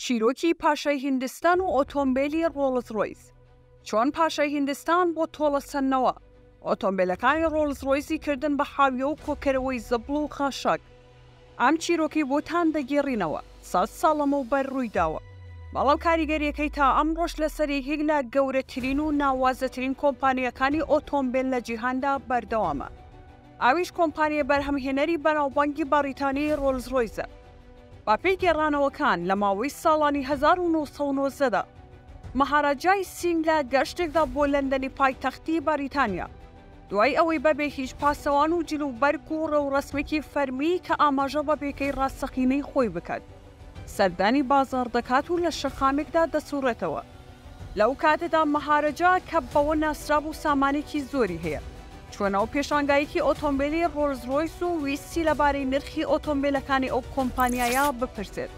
چیرۆکی پاشای هیندستان و ئۆتۆمبیلی ڕۆڵز ڕۆیس چۆن پاشای هیندستان بۆ تۆڵەسەندنەوە ئۆتۆمبیلەکانی ڕۆڵز ڕۆیسی کردن بە حاویە و کۆکەرەوەی زەبڵ و خاشاک ئەم چیرۆکەی بۆتان دەگێڕینەوە، سەد ساڵ لەمەوبەر ڕوویداوە، بەڵام کاریگەرییەکەی تا ئەمڕۆش لەسەر یەکێک لە گەورەترین و ناوازەترین کۆمپانیاکانی ئۆتۆمبێل لە جیهاندا بەردەوامە، ئەویش کۆمپانیای بەرهەمهێنەری بەناوبانگی بەڕیتانی ڕۆلز ڕۆیزە. بەپێی گێڕانەوەکان، لە ماوەی ساڵانی هەزار و نۆ سەد و نۆزدە دا، مەهاراجای سینگ لە گەشتێکدا بۆ لەندەنی پایتەختی بەریتانیا، دوای ئەوەی بەبێ هیچ پاسەوان و جل و بەرگ و ڕێوڕەسمێکی فەرمی کە ئاماژە بە پێگەی ڕاستەقینەی خۆی بکات، سەردانی بازاڕ دەکات و لە شەقامێکدا دەسوڕێتەوە. لەو کاتەدا مەهارەجا، کە بەوە ناسرابوو سامانێکی زۆری هەیە، چووە ناو پێشانگایەکی ئۆتۆمبێلی ڕۆلزڕۆیس و ویستی لەبارەی نرخی ئۆتۆمبێلەکانی ئەو کۆمپانیایە بپرسێت.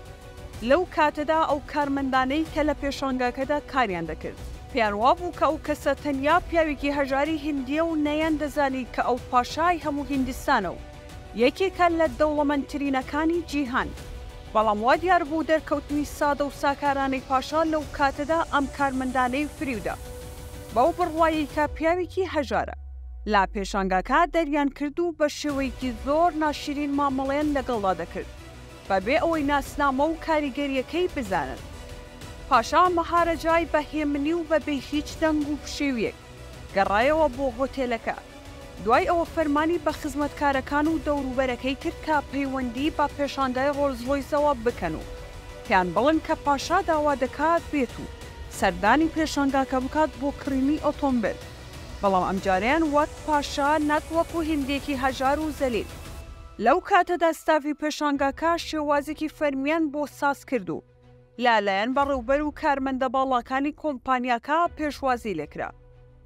لەو کاتەدا ئەو کارمەندانەی کە لە پێشانگاکەدا کاریان دەکرد، پێیان وابوو کە ئەو کەسە تەنیا پیاوێکی هەژاری هیندییە و نەیاندەزانی کە ئەو پاشای هەموو هیندستانە و یەکێکە لە دەوڵەمەندترینەکانی جیهان. بەڵام وا دیار بوو دەرکەوتنی سادە و ساکارانەی پاشا لەو کاتەدا ئەم کارمەندانەی فریو دا، بەو بڕوایەی کە پیاوێکی هەژارە. لە پێشانگاکە دەریان کرد و بە شێوەیەکی زۆر ناشیرین مامەڵەیان لەگەڵدا دەکرد. بە بێ ئەوەی ناسنامە و کاریگەرییەکەی بزانن. پاشا مەهارەجای بە هێمنی و بە بێ هیچ دەنگ و پشێوییەک گەڕایەوە بۆ هۆتێلەکە. دوای ئەوە فەرمانی بە خزمەتکارەکان و دەوروبەرەکەی کرد کە پەیوەندی بە پێشاندای ڕۆلز ڕۆیسەوە بکەن و پێیان بڵێن کە پاشا داوا دەکات بێت و سەردانی پێشانگاکە بکات بۆ کڕینی ئۆتۆمبێل، بەڵام ئەمجارەیان وەک پاشا نەک وەکو هندێکی هەژار و زەلیل. لەو کاتەدا ستافی پێشانگاکە شێوازێکی فەرمییان بۆ ساز کرد و لە لایەن بەڕێوبەر و کارمەندە باڵاکانی کۆمپانیاکە پێشوازی لێ کرا.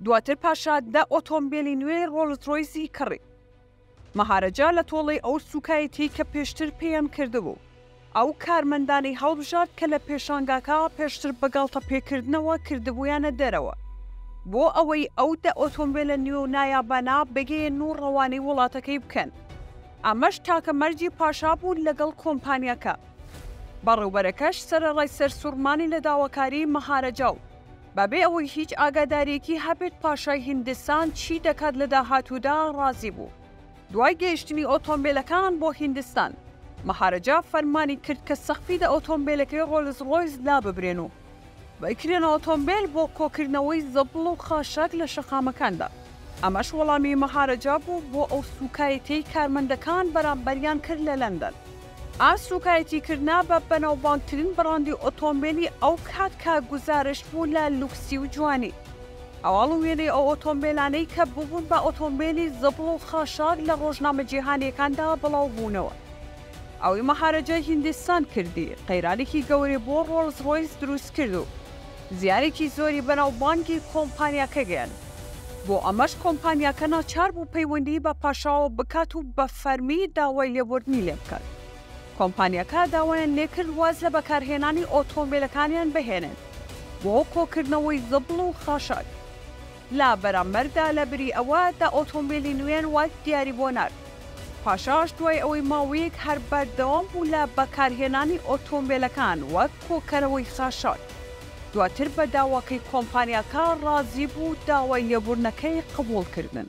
دواتر پاشا دە ئۆتۆمبێلی نوێی ڕۆلز ڕۆیزی کڕی. مەهارەجا لە تۆڵەی ئەو سووکایەتییەی کە پێشتر پێیان کردبوو، ئەو کارمەندانەی هەڵبژارد کە لە پێشانگاکە پێشتر بە گاڵتەپێکردنەوە کردبوویانە دەرەوە، بۆ ئەوەی ئەو دە ئۆتۆمبێلە نوێ و نایابانە بگەیێنن و ڕەوانەی وڵاتەکەی بکەن. ئەمەش تاکە مەرجی پاشا بوو لەگەڵ کۆمپانیاکە. بەڕێوبەرەکەش سەرەڕای سەرسوڕمانی لە داواکاریی مەهارەجا و بەبێ ئەوەی هیچ ئاگادارییەکی هەبێت پاشای هیندستان چی دەکات لە داهاتوودا، ڕازی بوو. دوای گەیشتنی ئۆتۆمبێلەکانان بۆ هیندستان، مەهارەجا فەرمانی کرد کە سەقفی دە ئۆتۆمبێلەکەی ڕۆلز ڕۆیس داببرێن و بکرێنە ئۆتۆمبێل بۆ کۆکردنەوەی زەبڵ و خاشاک لە شەقامەکاندا، ئەمەش وەڵامی مەهارەجا بوو بۆ ئەو سووکایەتیەی کارمەندەکان بەرامبەریان کرد لە لەندەن. ئا سوکایەتی کردنە بە بەناوبانگترین بڕاندی ئۆتۆمبێلی ئەو کات کە گوزارشت بوو لە لوکسی و جوانی. هەواڵ و وێنەی ئەو ئۆتۆمبێلانەی کە ببوون بە ئۆتۆمبێلی زبڵ و خاشاک لە ڕۆژنامە جیهانیەکاندا بڵاو بوونەوە. ئەوی مەهارەجای هیندستان کردی، قەیرانێکی گەورەی بۆ ڕۆڵز ڕۆیس دروست کرد و، زیانێکی زۆری بەناوبانگی کۆمپانیاکە گەیاند، بۆ ئەمەش کۆمپانیاکە ناچار بوو پەیوەندیی بە پاشاوە بکات و بە فەرمی داوای لێبوردنی لێ بکات. کۆمپانیاکە داوایان لێ کرد واز لە بەکارهێنانی ئۆتۆمبێلەکانیان بهێنن بۆ کۆکردنەوەی زبڵ و خاشاک. لە بەرامبەردا لە بری ئەوە دە ئۆتۆمبیلی نوێن وەک دیاری بۆ نارد. پاشاش دوای ئەوەی ماوەیەک هەر بەردەوام بوو لە بەکارهێنانی ئۆتۆمبیلەکان وەک کۆکەرەوەی خاشاک، دواتر بە داواکەی کۆمپانیاکە ڕازی بوو و داوای لێبوردنەکەی قبوڵ کردن.